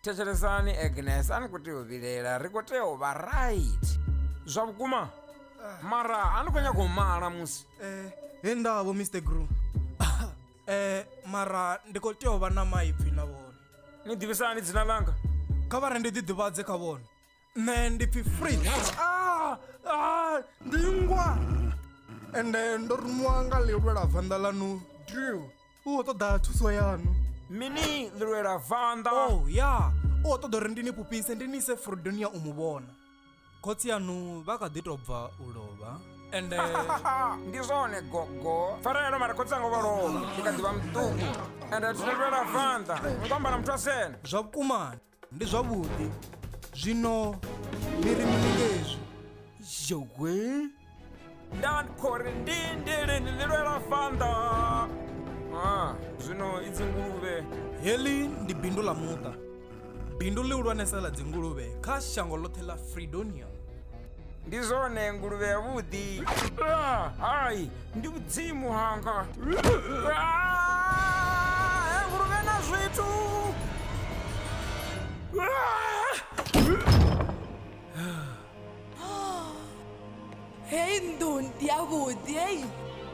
thetshelesani agnes a ni khou tea u vhilela ri khou tea u vha right zwa vhukuma mara a ni khou nyaka u mala musi he ndavho mr gru eh mara ndi khou tea u vha na maipfi na vhone ni ḓivhisani dzina langa kha vha re ndi ḓiḓivhadze kha vhone nṋe ndi pfi free ah, ah, ndi ngwa ende ndo rumiwa nga ḽilwela vanḓa ḽanu drill u khou ṱoḓa thuso yanu mini ḽilwela vanḓa o oh, ya u khou ṱoḓa uri ndi ni fhufhise ndi ni ise frodonia u mu vhona khotsi yanu vha kha ḓi tou bva u lovha ende ndi zwone gogo farelo mara khotsi anga vha lovha ndi kha ḓi vha muṱuku ende thilelwela vanḓa ni khou amba na muthu a sene zwa vhukumani ndi zwavhuḓi zwino ni ri mini ngezwi zhowe ndan khori ndi ndili ni ni lwela fanda ah, zwino i dzinguluvhe heḽi ndi bindu ḽa muṱa bindu ḽihulwanesa ḽa dzinguluvhe kha shango ḽoṱhe ḽa fredonia ndi zwone nguluvhe ya vhuḓi Ah, hai ndi mudzimu hanga Ah, eh, nguluvhe na zwithu Ah, hei nnḓu ndi yavhuḓi hei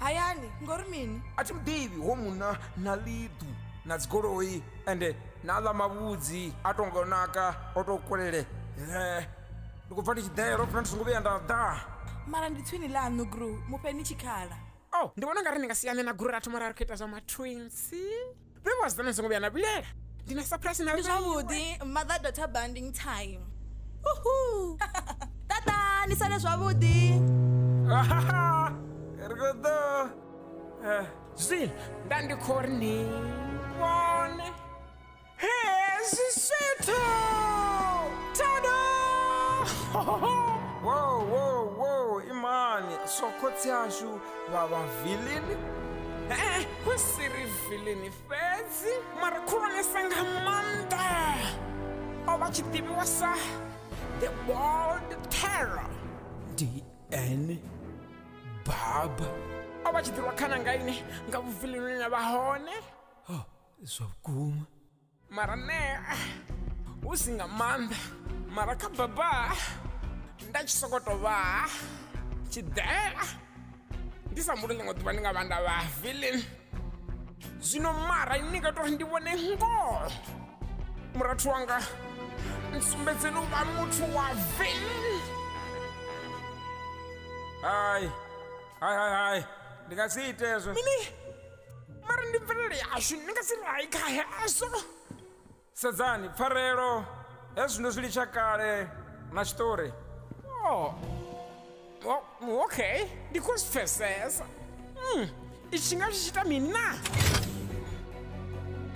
hayani ngori mini a thi muḓivhi ho munna na ḽiḓu na dzigoloi ende na ḽa mavhudzi a to ngo naka o to kulele ndi khou pfa ndi tshi ḓela ofuna ndi songo vhuya nda ḓa mara ndi tswini ḽaṋu gru mufhe ni tshikhala o oh, ndi vhona nga ri ni nga siyane na gru ra thoma ra ri khou ita zwa matwinsi vhe vhasidzana ni songo vhuya na vhilela ndi na surprise na ndi zwavhuḓi mother daughter banding time uhu tata ni sale zwavhuḓi ri khou ḓo eh, zwi nda ndi khou ri ni vhone hezwi zwithu tada wo wo wo imani so khotsi ashu vha vha vilini ee hu si ri vilini fhedzi mara khulwanesa nga maanḓa o vha tshi ḓivhiwa sa the world terror dn baba o vha tshi ḓirwa khana nga ine nga vhuvilinini a vha hone zwa vhukuma mara nea hu si nga maanḓa mara kha baba nda tshi soko to vha tshiḓela ndi sa mbuli ḽiṅwe ḓuvha ndi nga vha nda vha feeling zwino mara ni nga tori ndi vhone ngoho murathu wanga nsumbedzeni u vha muthu wa feeling hai hai hai hai ndi nga si ite hezwo mini mara ndi mvelele yashu ni nga si ri hai kha hezwo sedzani pfarelo hezwi ndo zwi litsha kale na tshiṱori oh. oh, okay ndi khou zwi pfesesa mm. itshi nga tshi tshi ita mini na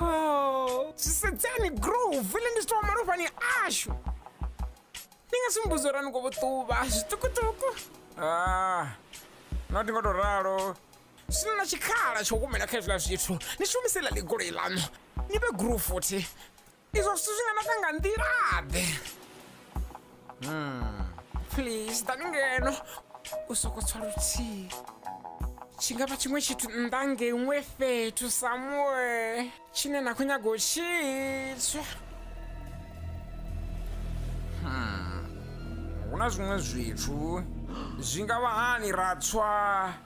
Oh, zwisedzani grove ile ndi sitowa malofhani ashu ndi nga simbudzo ra ni khou ṱuvha zwiṱukuṱuku Ah, no ndi nga tou ralo sina na tshikhala tsha u humela kha hezwiḽa zwithu ni shumise ḽa ḽigoloi ḽaṋu ni vhe grove futhi Izwo zwithu zwi nga naka nga nḓila-ḓe hmm. please ḓani ngeno u soko tswa luthihi tshi nga vha tshiṅwe tshithu nnḓa ngeṅwe fhethu samuwe tshine na khou nyaga u tshitswa hmm. hu na zwiṅwe zwithu zwi nga vha hani ra tswa